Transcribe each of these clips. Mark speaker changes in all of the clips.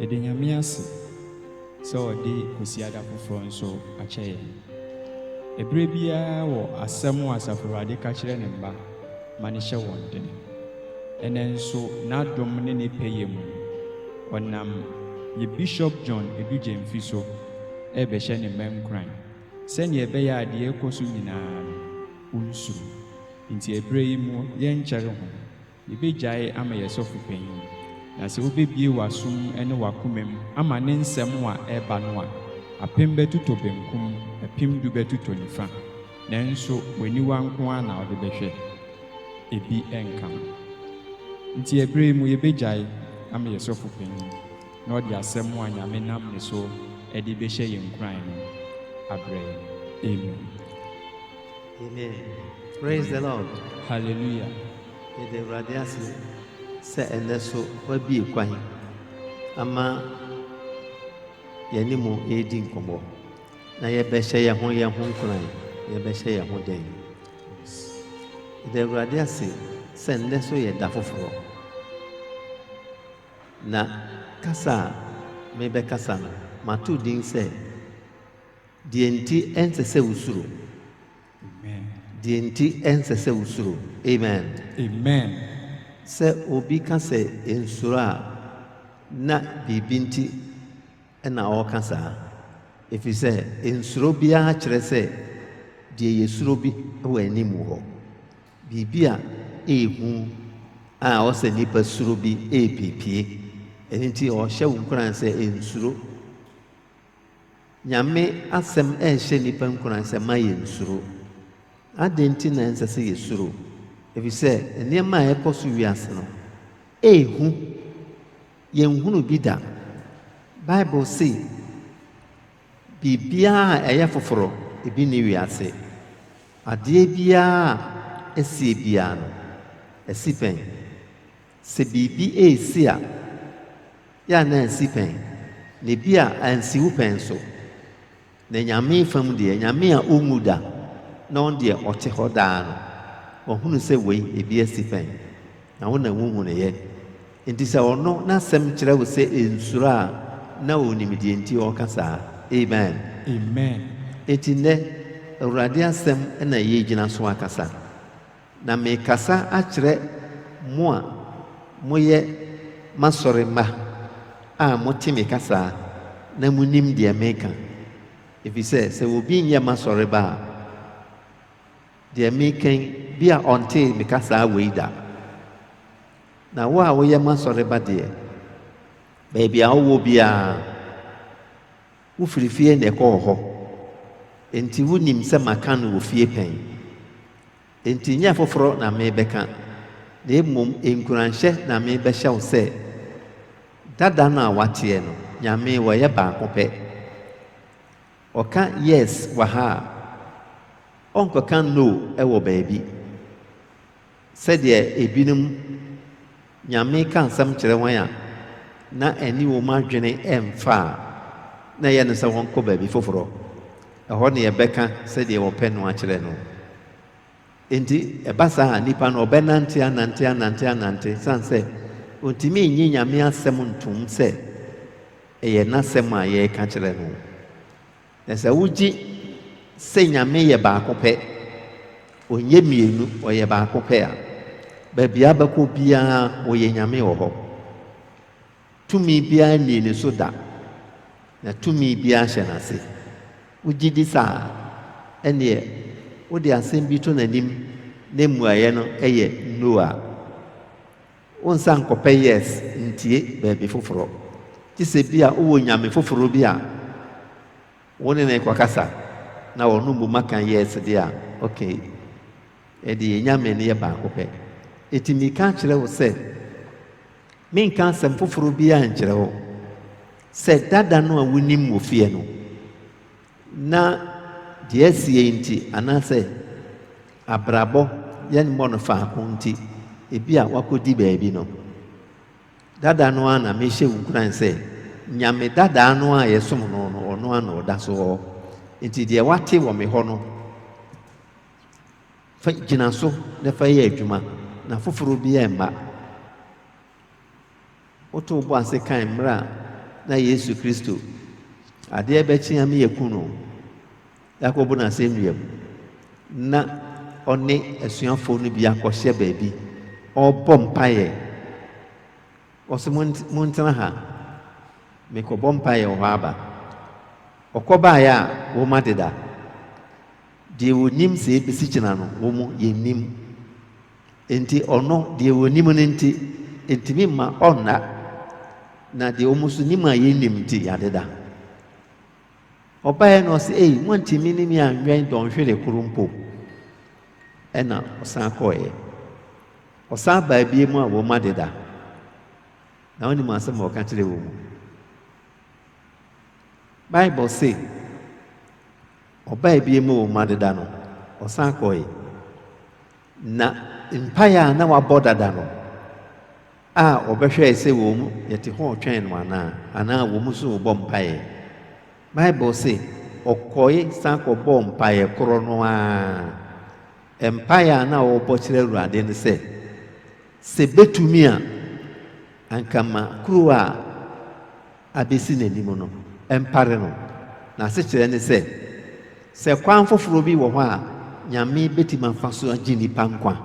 Speaker 1: Yɛda Nyame ase sɛ ɔde Kwasiada foforɔ nso akyɛ yɛn. Ɛberɛ biara wɔ asɛm a Asafo Awurade ka kyerɛ Ne mma ma no hyɛ wɔn den. Ɛnnɛ nso N'adom ne Ne pɛyɛ mu no, ɔnam yɛ Bishop John Adu Gyamfi so rebɛhyɛ Ne mma nkuran sɛdeɛ ɛbɛyɛ a deɛ ɛrekɔ so nyinaa no, wɔnsuro. Enti ɛberɛ yi mu yɛnkyɛre ho. Yebegyae ama yɛn sɔfo panyin, na sɛ wubebue w'asom ne w'akomam ama ne nsɛm a ɛreba no a, apem bɛtotɔ benkum, apim du bɛtotɔ nifa, nanso w'aniwa nko ara na wode bɛhwɛ, ebi renka ho. Enti ɛbere yi mu yebegyae ama yɛn sɔfo panyin na ɔde asɛm a Nyame nam ne so de bɛhyɛ yɛn nkuran no abrɛ yɛn. Amen.
Speaker 2: Amen praise the Lord. Hallelujah.
Speaker 1: Yɛda
Speaker 2: Awurade ase sɛ ɛnnɛ so wabue kwan ama yɛne mo redi nkɔmmɔ na yɛbɛhyɛ yɛn ho yɛn ho nkuran yɛbɛhyɛ yɛn ho dɛn. Yɛda Awurade ase sɛ ɛnnɛ so yɛ da foforɔ na kasa a mebɛkasa no mato din sɛ Deɛ nti ɛnsɛ sɛ wosuro. Amen. Deɛ nti ɛnsɛ sɛ wosuro. Amen. Amen.
Speaker 1: Sɛ
Speaker 2: obi ka sɛ nsuro a, na biribi nti na ɔreka saa. Ɛfiri sɛ nsuro biara kyerɛ sɛ deɛ yɛsuro bi wɔ anim hɔ. Biribi a ɛyɛ hu a ɔsɛ nnipa suro bi ɛrepiepie. Ɛno nti ɔhyɛ wo nkuran sɛ nsuro. Nyame asɛm rehyɛ nnipa nkuran sɛ, Mma yensuro. Adɛn nti na ɛnsɛ sɛ yesuro? Efisɛ nneɛma a ɛrekɔ so wiase no, ɛyɛ hu. Yenhunuu bi da. Bible se, Biribiara a ɛyɛ foforo, ebi nni wiase. Adeɛ biara a asie biara no, asi pɛn. Sɛ biribi resi a, yɛ a na ansi pɛn, na ebi a ansi wo pɛn nso. Na Nyame fam deɛ, Nyame a ɔnwu da, na ɔno deɛ ɔte hɔ daa no, wahunu sɛ wei, ebi asi pɛn, na wo na wunhunuiɛ. Enti sɛ ɔno n'asɛm kyerɛ wo sɛ nsuro a, na ɔnim deɛ nti ɔreka saa. Amen. Amen.
Speaker 1: Enti nnɛ,
Speaker 2: Awurade Asɛm na yɛregyina so akasa. Na merekasa akyerɛ mo a moyɛ m'asɔre mma a mote me kasa na munim deɛ mereka, efisɛ sɛ obi nyɛ m'asɔre ba a, deɛ mereka yi, bi a ɔntee me kasa wei da. Na wo a woyɛ m'asɔre ba deɛ, baabi a wowɔ biara, Wofiri fie na ɛkɔɔ hɔ, enti wunim sɛ maka no wɔ fie pɛn. Enti nyɛ foforɔ na merebɛka, na mmom nkuranhyɛ na merebɛhyɛ wo sɛ, Dada no a woateɛ no, Nyame, wɔyɛ baako pɛ. Ɔka Yes wɔ ha a, ɔnkɔka No wɔ baabi. Sɛdeɛ ebinom Nyame ka nsɛm kyerɛ wɔn a na ɛne wɔn adwene mfa a, na ɛyɛ no sɛ wɔnkɔ baabi foforɔ. Ɛhɔ na yɛbɛka sɛdeɛ wɔpɛ no akyerɛ no. Enti ɛba saa a, nipa no ɔbɛnante anante anante anante ɛsiane sɛ ɔntumi nnye Nyame asɛm ntom sɛ ɛyɛ N'asɛm a yɛreka kyerɛ no. Na sɛ wogye sɛ Nyame yɛ baako pɛ, ɔnyɛ mmienu, ɔyɛ baako pɛ a, baabi a bɛkɔ biara ɔyɛ Nyame wɔ hɔ. Tumi biara nnii ne so da, na tumi biara hyɛ n'ase. Wogye di saa a, ɛnneɛ wode asɛm bi to n'anim na mmuaeɛ no yɛ No a, Wo nsa nkɔpɛ yes ntie baabi foforɔ, gye sɛ bi a wowɔ nyame foforɔ bi a wo ne no rekɔkasa na ɔno mmom aka yes deɛ a, ok. Ɛnde yɛn nyame no yɛ baako pɛ. Enti meka kyerɛ wo sɛ, menka asɛm foforɔ biara nkyerɛ wo, sɛ dada no a wonim wɔ fie no, na deɛ ɛsiiɛ nti anaasɛ abrabɔ yɛn mmɔ no faako nti, ebi a wakɔdi baabi no. Dada no ara na mehyɛ wo nkuran sɛ, Nyame dadaa no a yɛsom no no, ɔno ara na ɔda so hɔ. Nti deɛ wate wɔ me hɔ no, fa gyina so na fa yɛ adwuma, na foforɔ biara mma. Woto wo bo ase kae mmerɛ a na Yesu Kristo, adeɛ rebɛkye ame yɛku no, yɛakɔbu no asɛnnua mu, na ɔne asuafoɔ no bi akɔhyɛ baabi, ɔrebɔ mpaeɛ. Ɔse montena ha, mekɔbɔ mpaeɛ wɔ hɔ aba. Ɔkɔbaeɛ a wɔm adeda. Deɛ wɔnim sɛ yɛbɛsi gyina no, wɔn yɛnnim. Enti ɔno, deɛ ɔnim no nti, ɛntumi mma ɔnna, na deɛ wɔn nso nim a yɛnnim nti, yɛadeda. Ɔbaeɛ no ɔse, ei, moantumi ne me anwɛn dɔnhwere koro mpo. Ɛna ɔsan kɔeɛ. Ɔsan baa bie mu a wɔn adeda. Na wonim asɛm a ɔka kyerɛ wɔn mu. Bible se, ɔbaa bie mu wɔn adeda no, ɔsan kɔeɛ. Na mpae a na wɔabɔ dada no, a wɔbɛhwɛe sɛ wɔ mu yɛte hoo twɛn no anaa, anaa wɔ mu so rebɔ mpae. Bible se, Ɔkɔe san kɔbɔɔ mpae koro no ara. Mpae a na ɔrebɔ kyerɛ Awurade ne sɛ, Sɛ betumi a, anka ma kuruwa a abesi n'anim no mpare no. N'asekyerɛ ne sɛ, sɛ kwan foforo bi wɔ hɔ a Nyame betumi afa so agye nnipa nkwa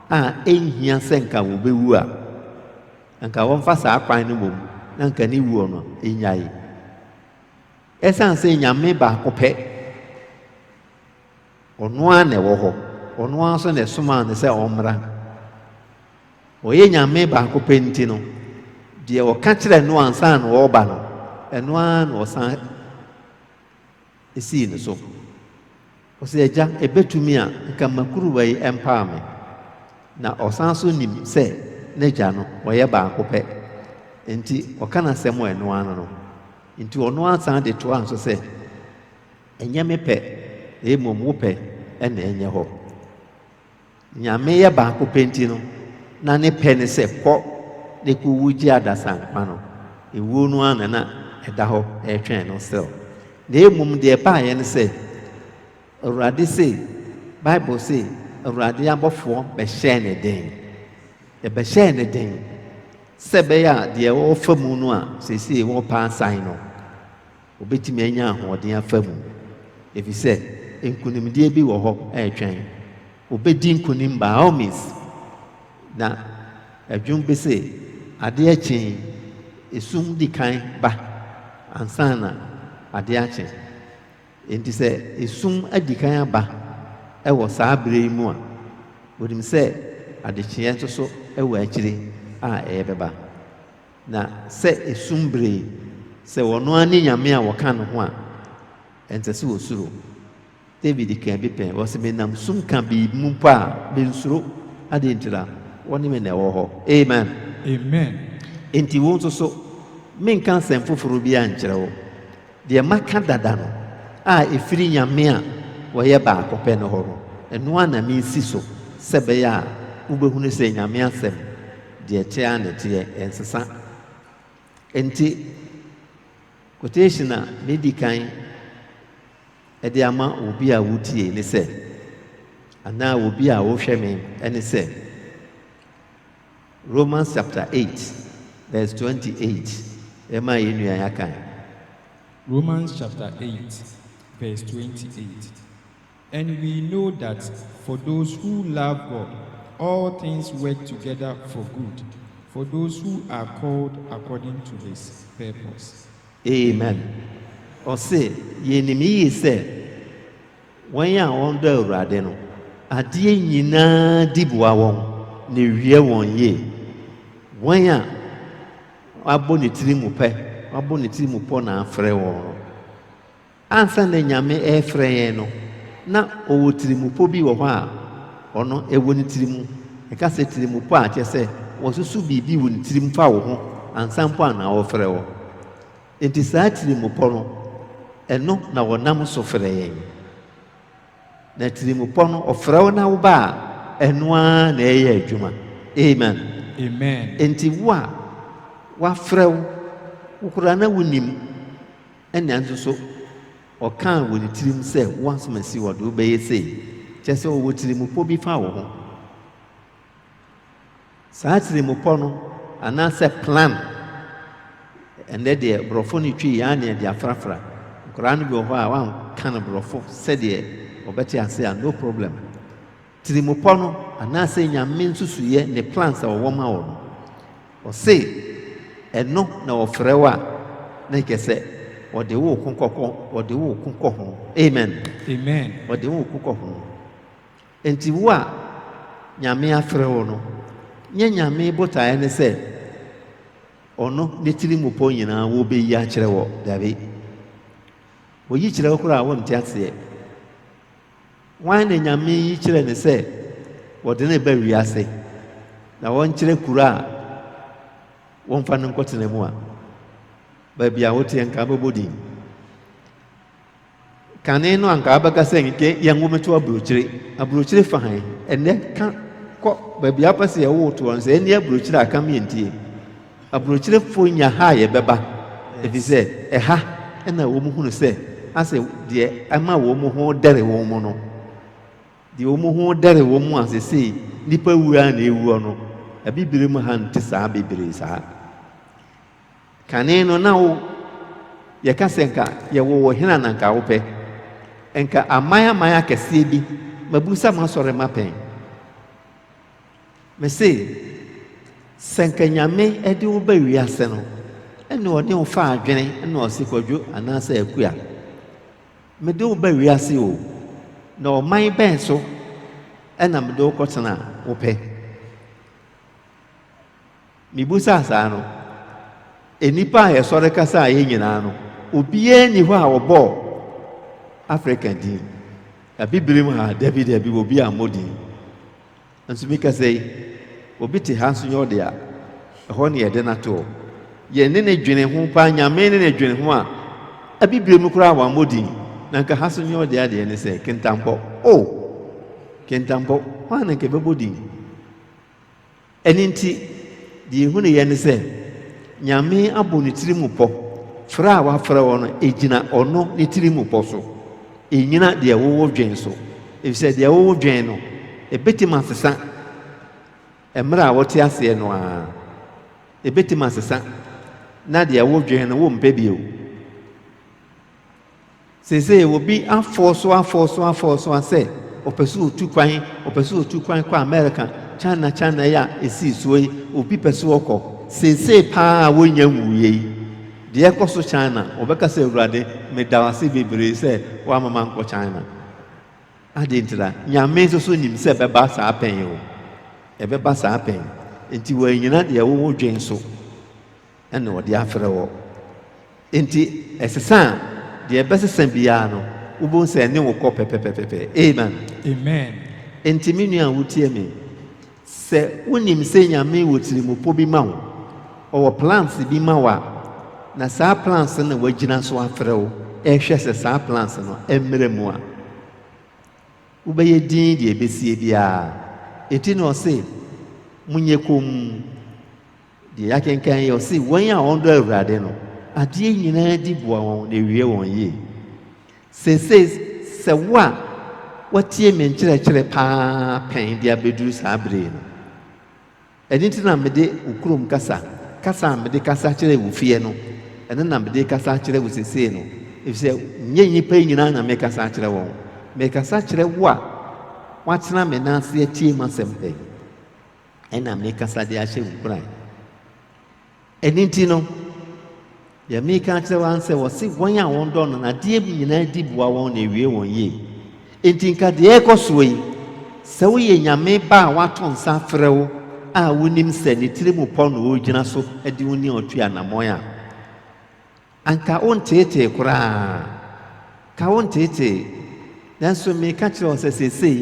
Speaker 2: a enhia sɛ anka wobewu a, anka wɔmfa saa kwan no mmom na anka ne wuo no nnyae. Esiane sɛ Nyame baako pɛ Ɔno ara na ɛwɔ hɔ. Ɔno ara nso na ɛsomaa no sɛ ɔmmra. Ɔyɛ Nyame baako pɛ nti no, deɛ ɔka kyerɛɛ no ansa na ɔreba no, ɛno ara na ɔsan sii no so. Ɔsɛ Agya, ɛbɛtumi a, nka mma kuruwa yi mpaa me. Na ɔsan so nim sɛ n'Agya no, ɔyɛ baako pɛ. Enti ɔka n'asɛm a ɛno ara no. Enti ɔno ara san de toaa so sɛ. Ɛnyɛ me pɛ, na mmom wo pɛ na ɛnyɛ hɔ. Nyame yɛ baako pɛ nti no, na ne pɛ ne sɛ kɔ na kɔ wu gye adasa nkwa no. Ewuo no ara na na ɛda hɔ ɛretwɛn no still. Na mmom deɛ ɛbaeɛ ne sɛ, Awurade se, Bible se, Awurade abɔfoɔ bɛhyɛɛ ne den. Ɛbɛhyɛɛ ne den sɛ ɛbɛyɛ a deɛ ɔrefa mu no a seesei wɔrepɛ asan no, Wobetumi anya ahoɔden afa mu, efisɛ nkonimdie bi wɔ hɔ retwɛn. Wobedi nkonim by all means. Na ɛdwom bi se, Adeɛ kye yi, esum di kan ba ansa na adeɛ akye. Enti sɛ esum adi kan aba wɔ saa bere yi mu a, wonim sɛ adekyeɛ nso so wɔ akyiri a ɛbɛba. Na sɛ esum bere sɛ ɔno ara ne Nyame a wɔka no ho a, ɛnsɛ sɛ osuro. David kaa bi pɛn, ɔse, Menam sum kabii mu mpo a, mensuro. Adɛn ntira? Wo ne me na ɛwɔ hɔ. Amen. Amen. Enti wo nso so, menka asɛm foforo biara nkyerɛ wo. Deɛ maka dada no, a ɛfiri Nyame a wɔyɛ baako pɛ no hɔ no, ɛno ara na meresi so, sɛ ɛbɛyɛ a wobɛhunu sɛ Nyame asɛm Deɛ ɛteɛ ara na ɛteɛ, ɛnsesa. Enti, quotation a medi kan de ama obi a wotie ne sɛ, anaa obi a wohwɛ me ne sɛ, Romans chapter 8, verse 28, ɛma yɛn nua yɛaka. Romans
Speaker 1: chapter 8, verse 28. And we know that for those who love God, all things work together for good, for those who are called according to His purpose. Amen.
Speaker 2: Ɔse, Yɛnim yiye sɛ wɔn a wɔdɔ Awurade no, adeɛ nyinaa di boa wɔn na ɛwie wɔn yie. Wɔn a wɔabɔ ne tiri mu pɛ, wɔabɔ ne tiri mu pɔ na afrɛ wɔn no, Ansa na Nyame refrɛ yɛn no, na ɔwɔ tirimupɔ bi wɔ hɔ a ɔno ɛwɔ ne tiri mu. Yɛka sɛ tirimupɔ a, kyerɛ sɛ wɔasusu biribi wɔ ne tirim fa wo ho ansa mpo a na ɔrefrɛ wo. Enti saa tirimupɔ no, ɛno na ɔnam so frɛ yɛn. Na tirimupɔ no, ɔfrɛ wo na woba a, ɛno ara na ɛreyɛ adwuma. Amen. Enti wo a wɔafrɛ wo, wo koraa na wonnim, Ɛnna nso so ɔkaa wɔ ne tirim sɛ, Wo asomasi, ɔde wo bɛyɛ sei. Kyerɛ sɛ, ɔwɔ tirimupɔ bi fa wo ho. Saa tirimupɔ no, anaasɛ plan, ɛnnɛ deɛ Borɔfo no twi yɛ ara na yɛde afrafra. Nkwadaa no bi wɔ hɔ a, woanka no Borɔfo sɛdeɛ wɔbɛte ase a, no problem. Tirimupɔ no anaasɛ Nyame nsusuiɛ ne plans a ɔwɔ ma wo no. Ɔse ɛno na ɔfrɛ wo a na ɛkɛsɛ ɔde wo ko kɔkɔ ɔde wo ko kɔ ho. Amen. Amen. Ɔde
Speaker 1: wo ko kɔ ho.
Speaker 2: Enti wo a Nyame afrɛ wo no, nyɛ Nyame botaeɛ ne sɛ ɔno ne tirimupɔ nyinaa wo bɛyi akyerɛ wɔ. Dabi. Ɔyi kyerɛ wo koraa a wonte aseɛ. Hwan na Nyame yi kyerɛ no sɛ wɔde no reba wiase na wɔnkyerɛ kuro a wɔmfa no nkɔtena mu a baabi a woteɛ nka bɛbɔ din? Kane no anka abɛka sɛ nka yɛn wo meto aburokyire. Aburokyire fa han ɛnɛ ka kɔ baabi apɛ sɛ yɛwo toɔ no sɛ ɛne aburokyire a ka meɛntie. Aburokyerefo nya ha a yɛbɛba, efisɛ ɛha na wɔhunu sɛ asɛ deɛ ɛma wɔn ho dɛre wɔn no, deɛ wɔn ho dɛre wɔn a sesei nnipa wuo ara na ɛwuɔ no, abibire mu ha nte saa bebree saa. Kane no na wo yɛka sɛ nka yɛwɔ wɔ hena na nka wopɛ? Nka aman aman akɛseɛ bi mabusa masɔre mapɛn. Mese, sɛ anka Nyame de wo ba wiase no, ɛne ɔne wo fa adwene na ɔse Kwadwo anaasɛ Akua, mede wo ba wiase o, na ɔman bɛn so na mede wo kɔtena a, wopɛ? Mibusaa saa no, nnipa a yɛsɔre kasaa yɛn nyinaa no, obiara nni hɔ a wɔbɔɔ Afrika din. Abibirim ha, dabi dabi, obi ammɔ din. Nso mi kasa yi, obi te ha nso nyɛ ɔde a, ɛhɔ ne yɛde no ato. Yɛne no dwene ho paa, Nyame ne no dwene ho a, Abibirim koraa wammɔ din, na nka ha nso nyɛ ɔde adeɛ ne sɛ, Kintampɔ. Oh! Kintampɔ, hwan na nka ɛbɛbɔ din? Ɛno nti, deɛ yɛhunuiɛ ne sɛ, Nyame abɔ ne tiri mu pɔ, frɛ a wafrɛ wo no, ɛgyina ɔno ne tiri mu pɔ so, ɛnnyina deɛ wo wo dwen so, ɛfiri sɛ deɛ wo wo dwen no, ɛbɛtumi asesa mmerɛ a wote aseɛ no ara, ɛbɛtumi asesa, na deɛ wo dwen no wo mpɛ bio. Seesei obi afɔw so afɔw so afɔw so a sɛ ɔpɛ sɛ otu kwan, ɔpɛ sɛ otu kwan kɔ Amerika, China China yi a esii soɔ yi, obi pɛ sɛ ɔkɔ. Seesei paa a wɔnnya nwuiɛ yi, deɛ ɛkɔ so China, ɔbɛka sɛ, Awurade, meda wo ase bebree sɛ woama mankɔ China. Adɛn ntira? Nyame nso so nim sɛ ɛbɛba saa pɛn o. Ɛbɛba saa pɛn. Enti wɔannyina deɛ wodwen so. na ɔde afrɛ wo. Enti ɛsesa a, deɛ ɛbɛsesa biara no, wobɛhu sɛ ɛne wo kɔ pɛpɛpɛpɛpɛ. Amen. Amen. Enti me nua a wotie me, sɛ wonim sɛ Nyame wɔ tirimupɔ bi ma wo, ɔwɔ plans bi ma wo a, na saa plans no na wagyina so afrɛ wo, ɛhwɛ sɛ saa plans no ɛmmerɛ mu a, wobɛyɛ din deɛ ɛbɛsie biara. Enti na ɔse, monyɛ komm. Deɛ yɛakenkan yi, ɔse, Wɔn a wɔdɔ Awurade no, adeɛ nyinaa di boa wɔn na ɛwie wɔn yie. Seesei, sɛ wo a woatie me nkyerɛkyerɛ paa pɛn de abɛduru saa berɛ yi no, ɛno nti na mede wo kurom kasa, kasa a mede kasa kyerɛ wo fie no, ɛno na mede kasa kyerɛ wo seesei no, ɛfiri sɛ nyɛ nnipa yi nyinaa na mekasa kyerɛ wɔn. Mekasa kyerɛ wo a woatena me nan ase atie m'asɛm pɛn. na mekasa de ahyɛ wo nkuran. Ɛno nti no, deɛ meka akyerɛ wɔn sɛ wɔse wɔn a wɔdɔ no nadeɛ nyinaa di boa wɔn na ewie wɔn yie. Enti nka deɛ ɛkɔ soɔ yi, sɛ woyɛ nyame ba a wato nsa frɛ wo a wonim sɛ ne tiri mu pɔ na ɔregyina so de wo ne ɔtua anammɔn a, Anka wonteetee koraa. Ka wonteetee. Nanso mereka kyerɛ wo sɛ seesei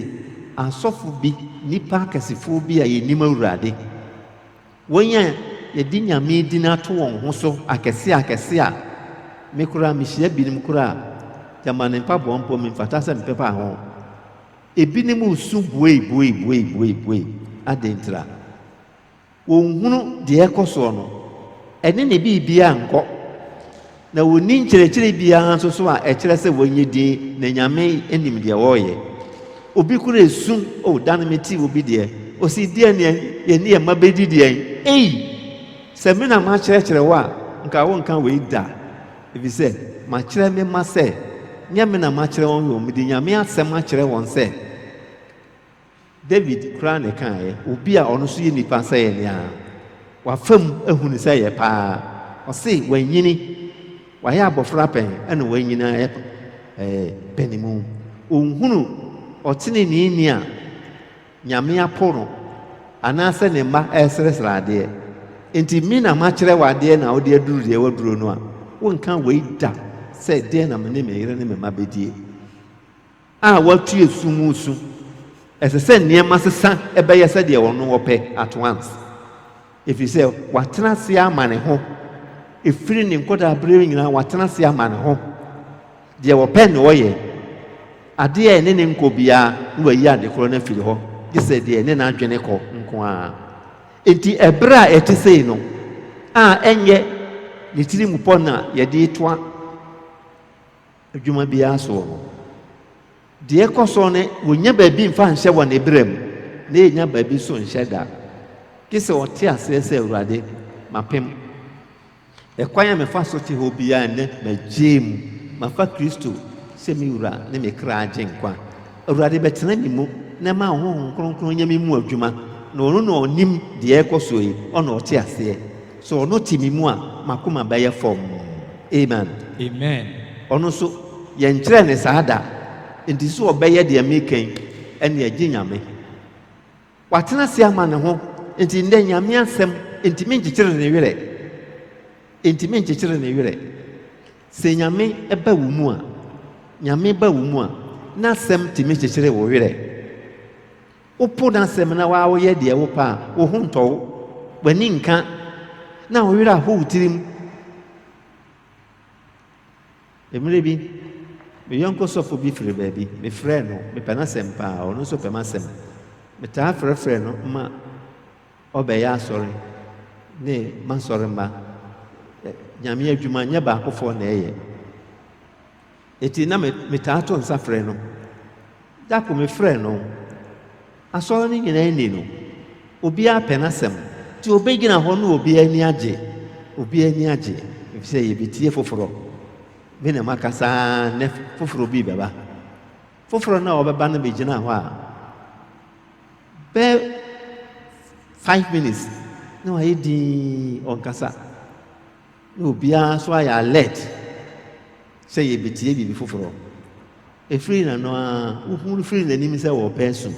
Speaker 2: asɔfo bi, nnipa akɛsefoɔ bi a yɛnnim Awurade, wɔn a yɛde Nyame din ato wɔn ho so akɛse akɛse a me koraa mehyia binom koraa a Gyamane mpaboa mpo memfata sɛ mepepa ho. Ebinom resu bueibueibueibuei. Adɛn ntira? Wɔnhunu deɛ ɛrekɔ soɔ no, ɛne ne biribiara nnkɔ, na wɔnni nkyerɛkyerɛ biara nso so a ɛkyerɛ sɛ wɔnyɛ dinn, na Nyame nim deɛ wɔreyɛ. Obi koro ɛsu, Oh, da no metee obi deɛ, ɔsii deɛn na yɛne yɛn mma bɛdi deɛn? Ei! Sɛ me na makyerɛkyerɛ wo a, nka wonka wei da, ɛfiri sɛ makyerɛ me mma sɛ, nyɛ me na makyerɛ wɔn, mmom mede Nyame asɛm akyerɛ wɔn sɛ, David koraa na ɛkaeɛ, obi a ɔno nso yɛ nipa sɛ yɛn ara, wafa mu ahu no sɛ ɛyɛ pa ara. Ɔse wanyini, wayɛ abɔfra pɛn na wanyini ayɛ ɛɛ panimu. Ɔnhunu ɔteneneeni a Nyame apo no anaasɛ ne mma ɛresrɛsrɛ adeɛ. Enti me na makyerɛ wo adeɛ na wode aduru deɛ waduro no a, wonka wei da sɛ deɛn na me ne me yere ne me mma bɛdie. a watu asu mu su. Ɛsɛ sɛ nneɛma sesa bɛyɛ sɛdeɛ ɔno ɔpɛ at once, ɛfiri sɛ watena ase ama ne ho, ɛfiri ne nkɔdaa berɛ nyinaa watena ase ama ne ho. Deɛ ɔpɛ na ɔyɛ, adeɛ a ɛne ne nkɔ biara na wayi ade korɔ no afiri hɔ, gye sɛ deɛ ɛne n'adwene kɔ nko ara. Enti ɛberɛ a ɛte sei no, a ɛnyɛ ne tirimupɔ na yɛde retoa, Adwuma biara so wɔ hɔ. Deɛ ɛkɔ so ne, wɔnnya baabi mfa nhyɛ wɔ Ne berɛ mu, na yɛnnya baabi nso nhyɛ da, gye sɛ wɔte aseɛ sɛ, Awurade, mapem. Ɛkwan a mefa so te hɔ biara nnɛ, magyee mu. Mafa Kristo sɛ me Wura ne me kra agyenkwa. Awurade bɛtena me mu na ɛma Honhom Kronkron nyɛ me mu adwuma, na ɔno na ɔnim deɛ ɛrekɔ soɔ yi, ɔna ɔte aseɛ. Sɛ ɔno te me mu a, m'akoma bɛyɛ fɔmm. Amen. Amen. Ɔno nso, yɛnkyerɛɛ no saa da, enti sɛ ɔbɛyɛ deɛ mereka yi, ɛnneɛ gye Nyame. Watena ase ama ne ho nti ndɛ Nyame asɛm nntimi nnkyekyere ne werɛ, nntimi nnkyekyere ne werɛ. Sɛ Nyame ba wo mu a, Nyame ba wo mu a, N'asɛm tumi kyekyere wo werɛ. Wopo N'asɛm na waa woyɛ deɛ wopɛ a, wo ho ntɔ wo, w'ani nnka, na wo werɛ aho wo tirim. Mmere bi, me yɔnko sɔfo bi firi baabi. Mefrɛɛ no. Mepɛ n'asɛm paa. Ɔno nso pɛ m'asɛm. Metaa frɛfrɛ no ma ɔbɛyɛ asɔre ne m'asɔremma. Nyame adwuma nyɛ baakofoɔ na ɛyɛ. Enti na metaa to nsa frɛ no. Da koro mefrɛɛ no. Asɔre no nyinaa ani no, obiara pɛ n'asɛm, nti obegyina hɔ na obiara ani agye. Obiara ani agye, efisɛ yebetie foforo. Me na makasa ara, nnɛ foforo bi rebɛba. Foforo no a ɔbɛba no begyina hɔ a, bɛyɛ five minutes na wayɛ dinn, ɔnkasa. Na obiara nso ayɛ alert sɛ yɛbɛtie biribi foforɔ. Ɛfiri na no ara, wohunu firi n'anim sɛ wɔrepɛ asu.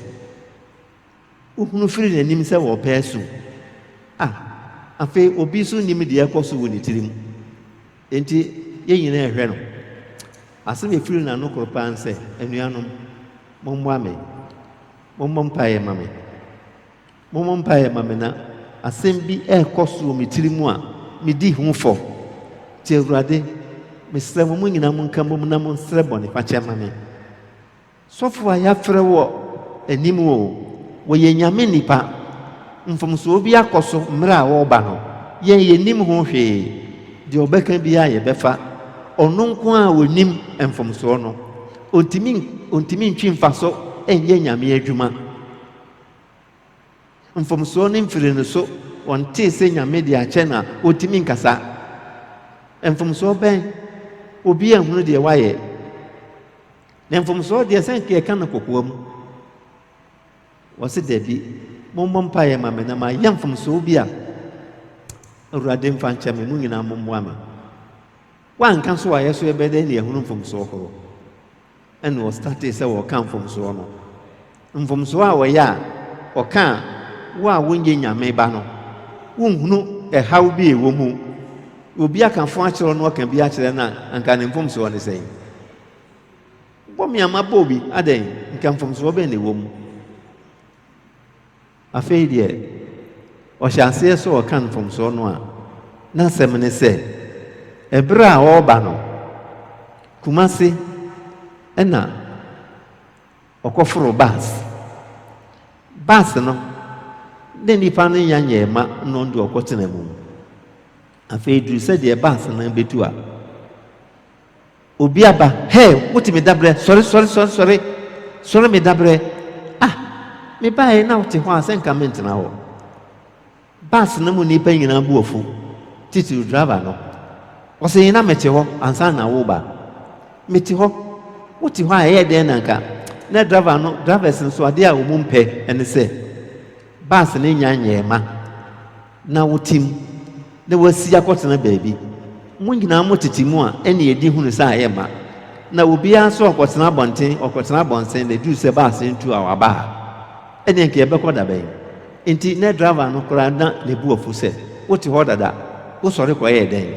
Speaker 2: Wohunu firi n'anim sɛ wɔrepɛ asu. A, afei obi nso nim deɛ ɛkɔ so wɔ ne tirim. Enti, yɛn nyinaa ɛhwɛ no. Asɛm ɛfiri n'ano koro paa nsɛ, anuanom, mommoa me. Mommɔ mpaeɛ ma me. Mommɔ mpaeɛ mma me na asɛm bi rekɔ so wɔ me tiri mu a medi ho fɔ. Nti Awurade, mesrɛ mo, mo nyinaa monka mmom na monsrɛ bɔnefakyɛ mma me. Sɔfoɔ a yɛafrɛ wɔ anim oo, wɔyɛ Nyame nnipa. Mfomsoɔ bi akɔ so mmerɛ a wɔreba no, yɛn yɛnnim ho hwee. Deɛ ɔbɛka biara yɛbɛfa. Ɔno nko ara a ɔnim mfomsoɔ no, ɔntumi ntwe mfaso nyɛ Nyame adwuma. Mfomsoɔ no mfiri no so, wɔntee sɛ Nyame de akyɛ no a, wɔntumi nkasa. Mfomsoɔ bɛn? Obi anhunu deɛ wayɛ. Na mfomsoɔ deɛ sɛ nka yɛka no kokoa mu. Wɔse dabi, mommɔ mpaeɛ ma me na mayɛ mfomsoɔ bi a Awurade mfa nkyɛ me, mo nyinaa mommoa me. Woanka so a yɛso yɛbɛdɛn ne yɛahunu mfomsoɔ horow? ɛna ɔstartee sɛ ɔreka mfomsoɔ no. Mfomsoɔ a ɔyɛ a ɔka a wo a wonyɛ Nyame ba no wonhunu ɛhaw bi a ɛwɔ mu. Obi aka fo akyerɛ wo na ɔka bi akyerɛ no a anka ne mfomsoɔ ne sɛn? Bɔ me a mabɔ obi adɛn? Nka mfomsoɔ bɛn na ɛwɔ mu? Afei deɛ, ɔhyɛ aseɛ sɛ ɔreka mfomsoɔ no a, n'asɛm ne sɛ, ɛberɛ a ɔreba no, Kumasi na ɔkɔforoo bus. Bus no, ne nnipa no nya nyɛɛ ma na ɔno deɛ ɔkɔtena mu. Afei duru sɛdeɛ bus no bɛtu a, Obi aba, Hey, wote me dabrɛ, sɔre, sɔre, sɔre, sɔre, sɔre me dabrɛ, ah, me baeɛ na wote hɔ a sɛ nka mentena hɔ. Bus no mu nnipa nyinaa bu afu, titiriw driver no. Ɔse yi na mete hɔ ansa na woba. Mete hɔ, wote hɔ a ɛyɛ dɛn na nka, na driver no, drivers nso adeɛ a wɔn mpɛ ne sɛ bus no nnya nyɛɛ ma. na wotim, na wɔasi akɔtena baabi. Mo nyinaa motete mu a, ɛnne adi hunu sɛ ayɛ ma. Na obiara nso ɔkɔtena abɔnten, ɔkɔtena abɔnsen, na ɛduru sɛ baase ntu a, waba ha. Ɛnneɛ nka yɛbɛkɔ da bɛn? Enti na driver no koraa na ne bo afu sɛ, Wote hɔ dada, wosɔre kɔyɛɛ dɛn?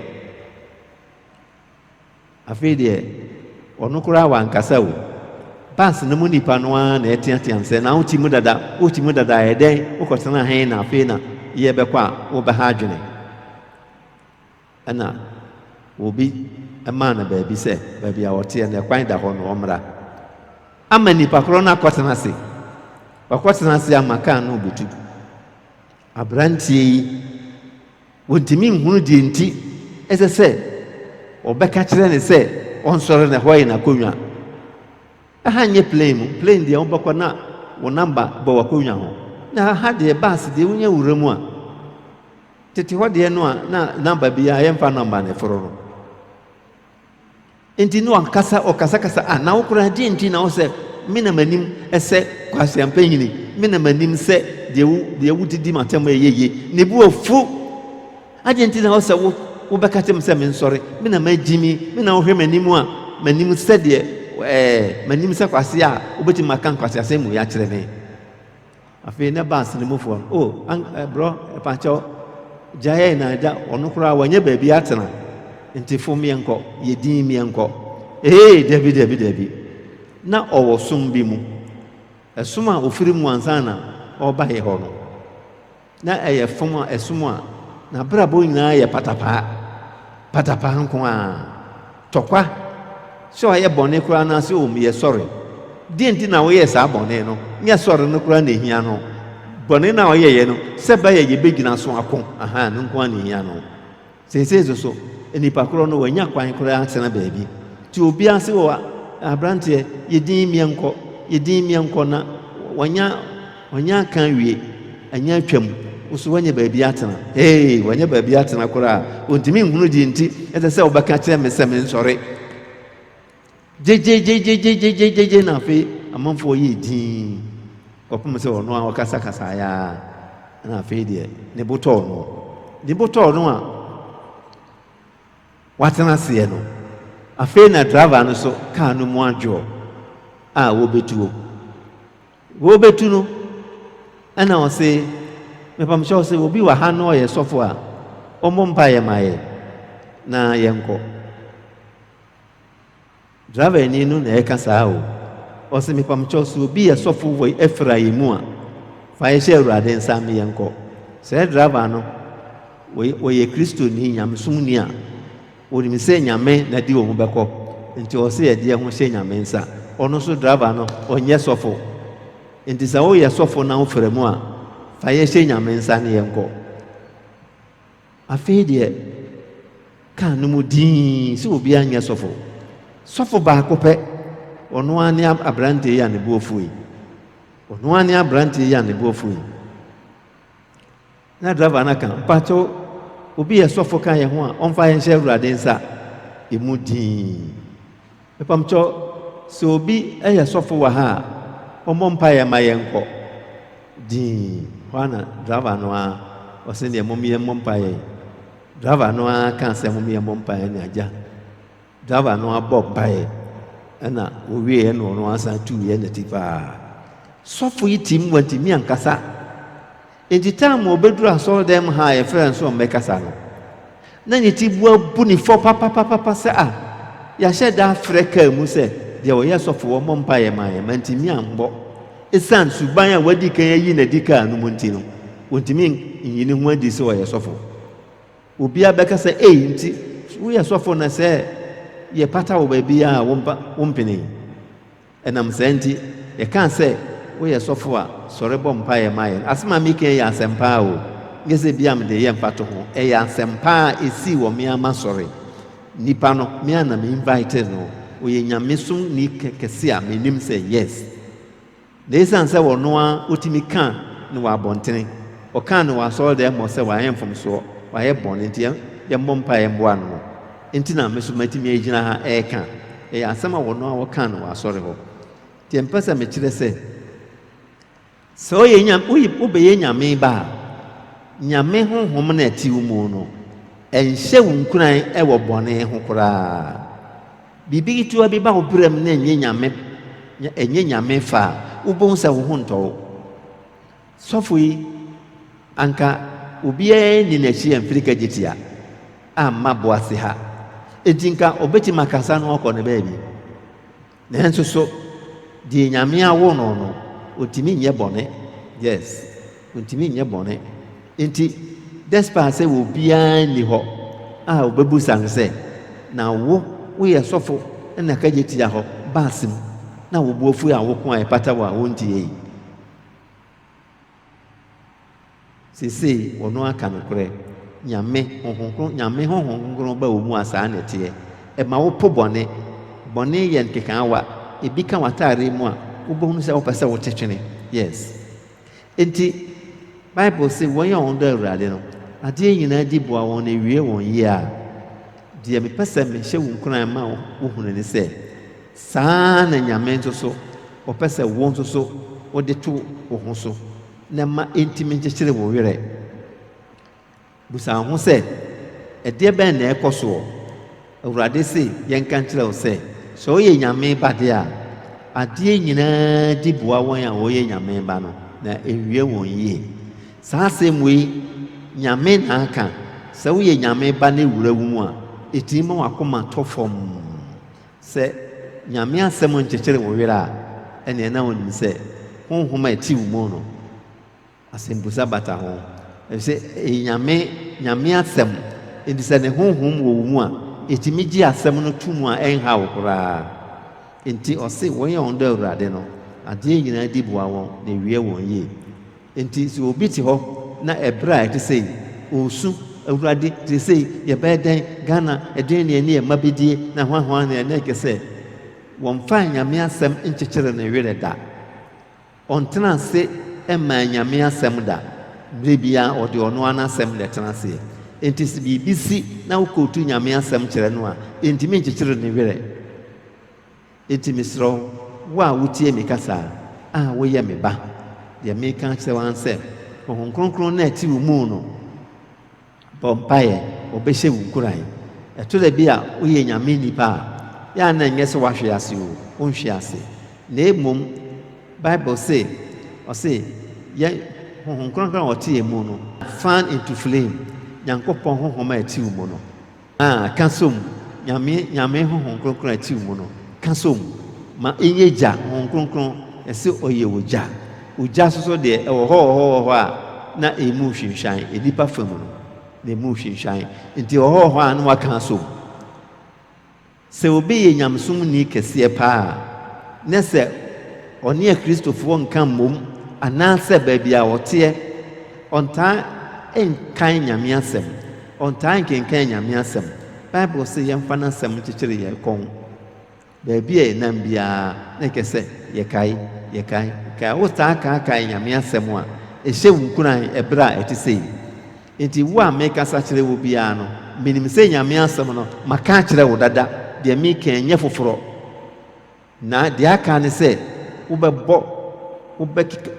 Speaker 2: Afei deɛ, ɔno koraa wankasa o. Bus no mu nnipa no ara na ɛteatea no sɛ, Na wote mu dada, wote mu dada a, ɛdɛn, wokɔtenaa he na afei na yɛrebɛkɔ a wobɛha adwene? Ɛnna obi maa no baabi sɛ baabi a ɔteɛ no, ɛkwan da hɔ no, ɔmmra. Ama nnipa korɔ no akɔtena ase. Wakɔtena ase ama kaa no rebutu. Aberanteɛ yi, wɔntumi nhunu deɛ nti ɛsɛ sɛ wɔbɛka kyerɛ no sɛ ɔnsɔre na ɛhɔ yɛ n'akonnwa. Ɛha nyɛ plane mu, plane deɛ wobɛkɔ na wo namba bɔ w'akonnwa ho. Na ɛha deɛ bus deɛ wonya wura mu a, tete hɔ deɛ no a na namba biara yɛmfa nɔmba na ɛforo no. Enti Noa ankasa ɔkasakasa a, na wo koraa deɛn nti na wo sɛ me na m'anim sɛ kwasia mpanyini, me na m'anim sɛ deɛ wo deɛ wodidi m'atɛm a ɛyɛ yie, ne bo afu, adeɛn nti na wo sɛ wo wobɛka kyerɛ me sɛ mensɔre, me na magyimi, me na wohwɛ m'anim a m'anim sɛdeɛ ɛɛ m'anim sɛ kwasia a wobɛtumi aka nkwaseasɛm mu yi akyerɛ me. Afei na bus no mufoɔ no, oh, an, eh, brɔ, ɛpakyɛw, gya yɛn na agya, ɔno koraa wɔnyɛ baabi atena, nti fom yɛnkɔ, yɛ din miɛnkɔ. Ee, dabi, dabi, dabi, na ɔwɔ som bi mu, ɛsom a ɔfiri mu ansa na ɔrebaeɛ hɔ no. Ná ɛyɛ fam a ɛsom a n'abrabɔ nyinaa yɛ patapaa, patapaa nko ara. Tɔkwa! Sɛ ɔyɛ bɔne koraa anaasɛ ommyɛ sɔre. Dɛn nti na ɔyɛɛ saa bɔne no? Nyɛ sɔre no koraa na ehia no. Bɔne no a ɔyɛeɛ no, sɛ ɛba a yebegyina so ako, ahaa, ɛno nko ara na ehia no. Seesei nso so, nnipa korɔ no wɔnnya kwan koraa atena baabi. Te obi ase wɔ aberanteɛ, yɛ dinn meɛnkɔ, yɛ dinn meɛnkɔ na wɔnnya, wɔnnya aka awie, anya atwam, wo so wɔnyɛ baabi atena. Hei, wɔnyɛ baabi atena koraa. Wɔntumi nhunu deɛ nti ɛsɛ sɛ wobɛka kyerɛ me sɛ mensɔre. gyegyeegyegyegyegyegyegye na afei amanfoɔ yɛɛ dinn kɔpem sɛ ɔno ara ɔkasakasaeɛ ara na afei deɛ ne bo tɔɔ no ne bo tɔɔ no a watena aseɛ no afei na driver no so kaa no mu adwoɔ a wɔbɛtuo wɔbɛtu no ɛna ɔse mepamhyɛ ɔse obi wɔ ha no ɔyɛ sɔfo a ɔmmɔ mpa yɛ ma yɛ na yɛnkɔ Driver ni no na ɛka saa o. Ɔse mepamkyɛw sɛ obi yɛ sɔfo wɔ Efra yi mu a, fa yɛ hyɛ Awurade nsa me yɛn kɔ. Sɛ driver no ɔyɛ Kristoni, nyamesomni a, onim sɛ Nyame na ɛde wɔn bɛkɔ, nti ɔse yɛde yɛn ho hyɛ Nyame nsa. Ɔno nso driver no ɔnyɛ sɔfo, nti sɛ woyɛ sɔfo na wofra mu a, fa yɛn hyɛ Nyame nsa ne yɛn kɔ. Afei deɛ kaa no mu dinn sɛ obiara nyɛ sɔfo. Sɔfo baako pɛ, ɔno ara ne aberanteɛ yi a ne bo afuo yi. Ɔno ara ne aberanteɛ yi a ne bo afuo yi. Na driver no aka, mpakyɛw, obi yɛ sɔfo ka yɛn ho a, ɔmfa yɛn hyɛ Awurade nsa. Emu dinn. Mpamkyɛw, sɛ obi yɛ sɔfo wɔ ha a, ɔmmɔ mpaeɛ mma yɛnkɔ. Dinn, hɔ ara na driver no ara, ɔse deɛ mom yɛmmɔ mpaeɛ. Driver no ara kaa sɛ mom yɛmmɔ mpaeɛ ne agya. Driver no ara bɔɔ mpaeɛ, ɛna wɔwieɛ na ɔno ara san tuiɛ ne ti paa. Sɔfo yi tirim wantumi ankasa. Enti taam a obedur asɔrdan mu ha a yɛfrɛ no so mbɛkasa no, nna ne tsibowa bu no fɔ papapapapa sɛ a yɛahyɛ da afrɛ kaa mu sɛ deɛ ɔyɛ sɔfo wɔ mbɔ mpaeɛ mma yɛn, manntumi ammbɔ esiane suban a wɔadi kan ayi no adi kaa no mu nti no, wɔntumi nyi ne ho adi sɛ ɔyɛ sɔfo. Obiara bɛka sɛ, Ei, nti woyɛ sɔfo na sɛ yɛpata wo baabi a wompenee? Ɛnam saa nti, yɛkaa sɛ, Woyɛ sɔfo a, sɔre bɔ mpaeɛ ma yɛn. Asɛm a mereka yi yɛ asɛmpa o, nyɛ sɛ ebia mede reyɛ mfatoho. Ɛyɛ asɛmpa a ɛsii wɔ me ara m'asɔre. Nipa no, me ara na me invitee no. Ɔyɛ nyamesomni kɛse a menim sɛ yes. Na ɛsiane sɛ ɔno ara ɔtumi ka no wɔ abɔntene, ɔkaa no wɔ asɔredan mu hɔ sɛ wayɛ mfomsoɔ, wayɛ bɔne nti, yɛmmɔ mpaeɛ mmoa no. Enti na me nso matumi agyina ha reka. Ɛyɛ asɛm a wɔn ara wɔkaa no wɔ asɔre hɔ. Deɛ mepɛ sɛ mekyerɛ sɛ, sɛ woyɛ Nyame, woyɛ, wobɛyɛ Nyame ba a, Nyame honhom na ɛte wo mu no, ɛnhyɛ wo nkuran wɔ bɔne ho koraa. Biribi ketewa bi ba wo berɛm na ɛnyɛ Nyame, ɛnyɛ Nyame fɛ a, wobɛhu sɛ wo ho ntɔ wo. Sɔfo yi, anka obiara nni n'akyi mfiri kagyetia amma Boaseha, enti nka obetumi akasa no akɔ ne baabi. Nanso so deɛ Nyame awo no no, ontumi nyɛ bɔne? Yes, ontumi nyɛ bɔne. Enti, despite sɛ obiara nni hɔ a obebisa no sɛ, Na wo, woyɛ sɔfo na kagyetia hɔ bass mu, na wo bo afu a woko a ɛpata wo a wontiei? Sesei wɔno aka nokorɛ, Nyame, Honhom Kronkron, Nyame Honhom Kronkron ba wɔn mu a saa na ɛteɛ. Ɛma wo po bɔne. Bɔne yɛ nkekaawa. Ebi ka w'ataareɛ mu a, wobɛhunu sɛ wopɛ sɛ wo te twene. Yes. Enti, Bible se wɔn a wɔn dɔ Awurade no, adeɛ nyinaa di boa wɔn na ɛwie wɔn yie a. Deɛ mepɛ sɛ mehyɛ wo nkuran ma wo hunu ne sɛ, Saa ara na Nyame nso so, Ɔpɛ sɛ wo nso so wode to wo ho so na ɛmma entumi nkyekyere wo werɛ. Bisa wo ho sɛ, 'Ɛdeɛ bɛn na ɛrekɔ soɔ? Awurade se yɛnka nkyerɛ wo sɛ, sɛ woyɛ Nyame ba deɛ a, adeɛ nyinaa di boa wɔn a wɔyɛ Nyame ba no, na ɛnwie wɔn yie. Saa asɛm wei, Nyame na aka, sɛ woyɛ Nyame ba na ɛwura wo mu a, ɛtumi ma w'akoma tɔ fɔmm. Sɛ Nyame asɛm nkyekyere wo werɛ a, ɛneɛ na wonim sɛ Honhom a ɛte wo mu no, asɛmbusa bata ho. Ɛfisɛ ɛyɛ Nyame, Nyame asɛm, enti sɛ Ne Honhom wɔ wo mu a, ɛtumi gye asɛm no to mu a ɛnha wo koraa. Enti ɔse wɔn a wɔdɔ Awurade no, adeɛ nyinaa di boa wɔn na ɛwia wɔn yie. Enti sɛ obi te hɔ na ɛberɛ a ɛte sɛi ɔresu, Awurade, seesei yɛbɛyɛ dɛn, Ghana, ɛdeɛn na yɛne yɛn mma bɛdie, na hwanhwan na yɛne ɛkɛ sɛ wɔmfaa Nyame asɛm nkyekyere ne werɛ da, ɔntena ase mmaa Nyame asɛm da, berɛ biara ɔde ɔno ara n'asɛm na ɛtena aseɛ. Enti sɛ biribi si na wokootu Nyame asɛm kyerɛ no a, ɛntumi nkyekyere ne werɛ. Enti mesrɛ wo, wo a wotie me kasa, a woyɛ me ba, deɛ mereka akyerɛ wo ara ne sɛ, Honhom Kronkron no a ɛte wo mu no bɔ mpaeɛ, ɔbɛhyɛ wo nkuran. Ɛtɔ da bi a woyɛ Nyame nnipa a, yɛ a na ɛnyɛ sɛ woahwe ase o, wonhwe ase. Na mmom, Bible se, ɔse yɛn Honhom Kronkron a ɔte yɛn mu no, fan into flame, Nyankopɔn Honhom a ɛte wo mu no, A. Ka so mu, Nyame, Nyame Honhom Kronkron a ɛtew mu no, ka so mu, ma ɛnyɛ gya, Honhom Kronkron, ɛse ɔyɛ ogya. Ogya nso so deɛ, ɛwɔ hɔ, wɔ hɔ, wɔ hɔ a na ɛmu nhwinhwan, nnipa fam no, na ɛmu nhwinhwan, nti ɛwɔ hɔ, wɔ hɔ a na wɔaka aso mu. Sɛ obi yɛ nyamesomni kɛseɛ paa a, ne sɛ ɔne Akristofoɔ nka mmom anaasɛ baabi a ɔteɛ, ɔntaa nkae Nyame asɛm, ɔntaa nkenkan Nyame asɛm. Bible se yɛmfa n'asɛm nkyekyere yɛn kɔn. Baabi a yɛnam biara na ɛkɛ sɛ yɛkae, yɛkae, yɛkae. Wotaa kaakae Nyame asɛm a, ɛhyɛ wo nkuran ɛberɛ a ɛte sei. Enti wo a mekasa kyerɛ wo biara no, menim sɛ Nyame asɛm no maka akyerɛ wo dada, deɛ meka yi nyɛ foforɔ, na deɛ aka ne sɛ wobɛbɔ,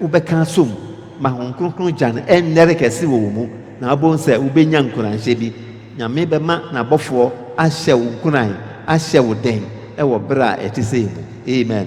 Speaker 2: wobɛka asɔ mu, ma Hom Kronkron gya no ɛnnɛre kɛse wɔ wo mu, na wobɛhu sɛ wobɛnya nkuranhyɛ bi. Nyame bɛma N'abɔfoɔ ahyɛ wo nkuran, ahyɛ wo den wɔ berɛ a ɛte sei mu. Amen.